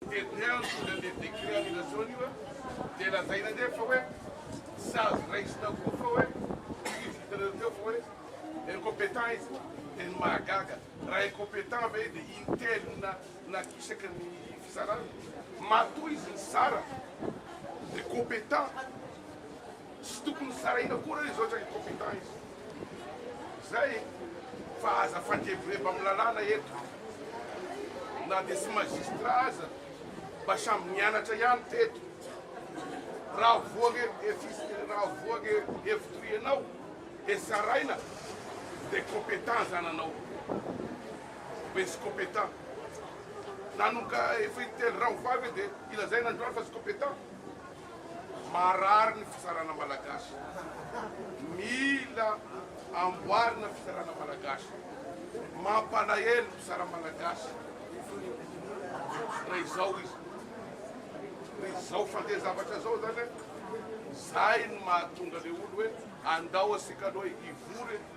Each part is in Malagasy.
Tete an tsy mila le décret annulation io an dia lazaina nge fa hoe sazy raisina koa fa hoe izy hitanareo teo fa hoe incompétent izy dia ny mahagaga raha incompétent ve dia intellign na na isaky ny fizarana matoa izy nizara dia compétent Tsy tokony sarahina akory izao izay incompetents izao izay fa aza fandrebireba amin'ny lalàna eto na dia tsy magistrat aza mba samy nianatra ihany teto raha voa re efis raha voa re efitry ianao dia saraina dia competents izany anao ve tsy competents nanoka efa intelo raha ho vavy dia ilazaina androany fa tsy competents Marary ny fitsarana malagasy. Mila amboarina fitsarana malagasy. Mampalahelo ny mpitsara malagasy. Raha izao izy. Raha izao fandeha zavatra izao zany hoe zay no mahatonga le olo hoe andao asika aloha hivory eto.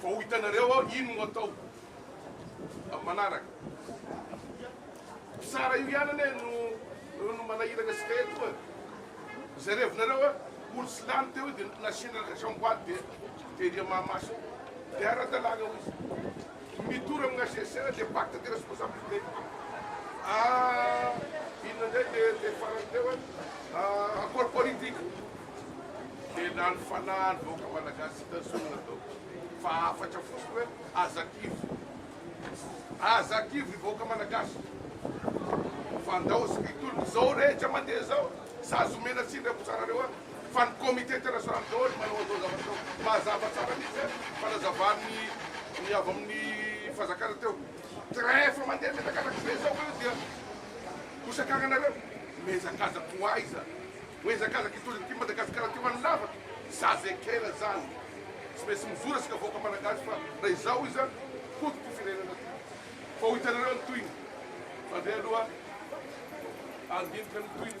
Fa ho hitanareo aho ino no hatao amin'ny manaraka. Mpitsara io ihany anie no no manahirana antsika eto e. Izay revinareo e, olo tsy lany teo io dia nasiana raison boady dia dia dia mahamasina. Dia ara-dalàna hoy izy. Mitory amin'ny HCC dia pacte de responsabilité. Ah inona indray le le farany teo e, ah accord politique. Tena ny fanahy ny vahoaka malagasy hita zorona tao fa hafatra fotsiny hoe aza kivy. Aza kivy ry vahoaka malagasy fa ndao sy mitolona zao rehetra mandeha zao sazy omena tsiny ry akotsarareo a! Fa ny comité international daholo no manao an'zao zavatra zao. Mazava tsara mihitsy a! Fanazavan'ny ny avy amin'ny fanjakana teo. Train efa mandeha mianakavaka be zao ka io dia bosakagnanareo? Miezakazaka ho aiza? Mihazakazaka hitondra ity Madagasikara ity ho any lavaka zaza ekena zany tsy maintsy mijoro asika vahoaka malagasy fa raha izao iza hody ty firenena ty fa ho hitanareo ny tohiny fa ndray aloha andinika ny tohiny.